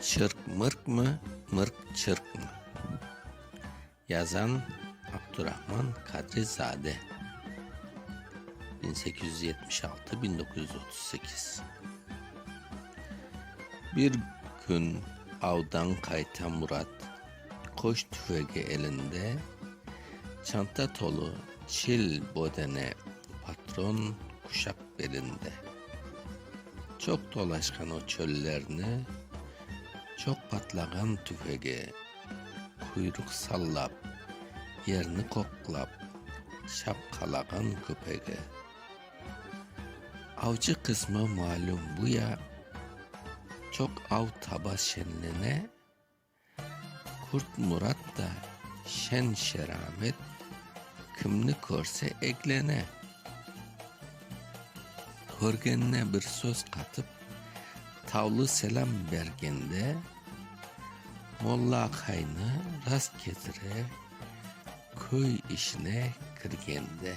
Çırq mırqmı, mırq çırqmı? Yazan, Abdurahman Kadrizade. Bin sekiz yüz yetmiş altı, bin doquz yüz otuz sekiz. Bir kün avdan qayta Murat qoş tüfegi elinde, çanta tolu çil bodene, patron quşaq belinde. Çoq dolaşqan o çöllerni, Çoq patlağan tüfege quyruq sallap, Yerni qoqlap, şapqalağan köpege. Avcı qısmı malüm bu ya, Çoq av taba şenlene, Kürt Murat da şen-şeramet, kimni körse eglene. Körgenine bir söz qatıp, tavlı selâm bergende, molla-aqaynı rast ketire, köy işine kirgende.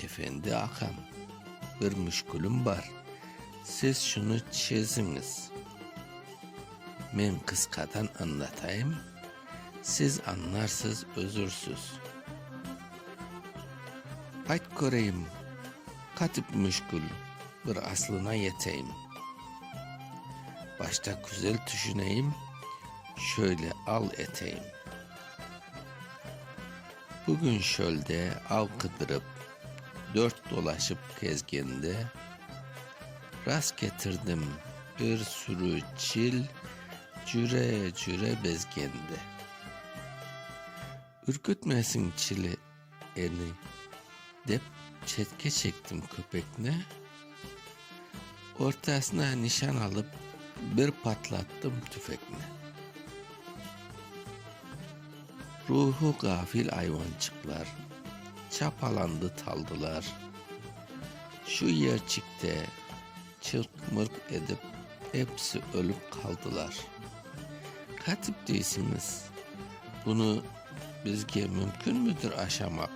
Efendi aqam, bir müşkülim bar, siz şunı çeziñiz. Men qısqadan añlatayım, siz añlarsız, özürsüz. Ayt köreyim, qatip müşkül, bir aslına yeteyim. Başta küzel tüşüneyim, şöyle al eteyim. Bugün çölde av qıdırıp, dört dolaşıp kezgende, rast ketirdim bir sürü çil cüre-cüre bezgende. Ürkütmesin çili eni dep, çetke çektim köpekni. Ortasına nişan alıp, bir patlattım tüfekni. Ruhu gafil ayvançıqlar çapalandı taldılar. Şu yerçikte çırq-mırq edip, episi ölüp qaldılar. Qatip deysiniz, bunı bizge mümkünmidir aşamaq?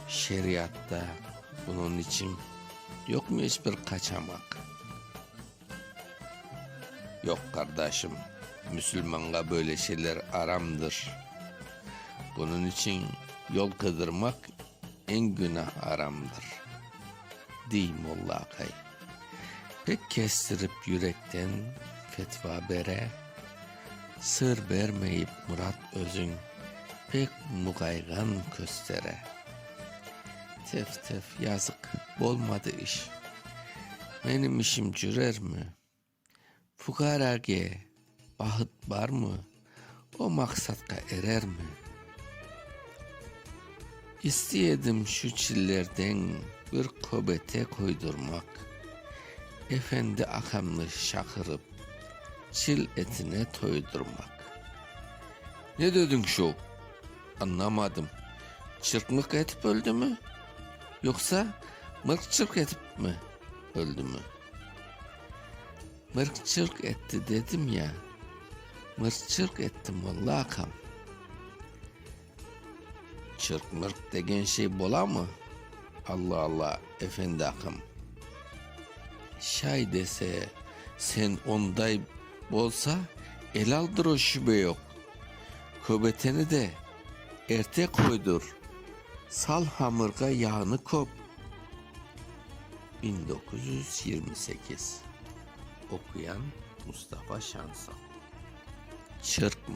Şeriatta. Bunıñ içün yoqmı eş bir qaçamaq? Yoq, qardaşım, müsülmanğa böyle şeyler aramdır. Bunıñ içün yol qıydırmaq eñ günah aramdır, dey molla aqay. Pek kestirip yürekten fetva bere. Sır bermeyip Murat özüñ pek muğayğan köstere. Tef-tef, yazıq, bolmadı iş. Menim işim cürermi? Fuqarage bahıt barmı? O maqsadqa erermi? İstey edim şu çillerden bir köbete köydürmak, efendi aqamnı şaqırıp, çil etine toydurmak. Ne dediñ şuv? Añlamadım, çırpmıq etip öldümi, yoqsa mırq-çırq etip mi öldümi? Mırq-çırq etti dedim ya, mırq-çırq etti, molla aqam. Çırq-mırq degen şey bolamı? Alla-alla, efendi aqam. Şay dese, sen onday bolsa, elaldır o, şübe yoq. Köbeteni de erte qoydur, sal hamırğa yağnı köp. Biñ doquz yüz yirmi sekiz. Oquyan, Mustafa Şansal. Çırpmır.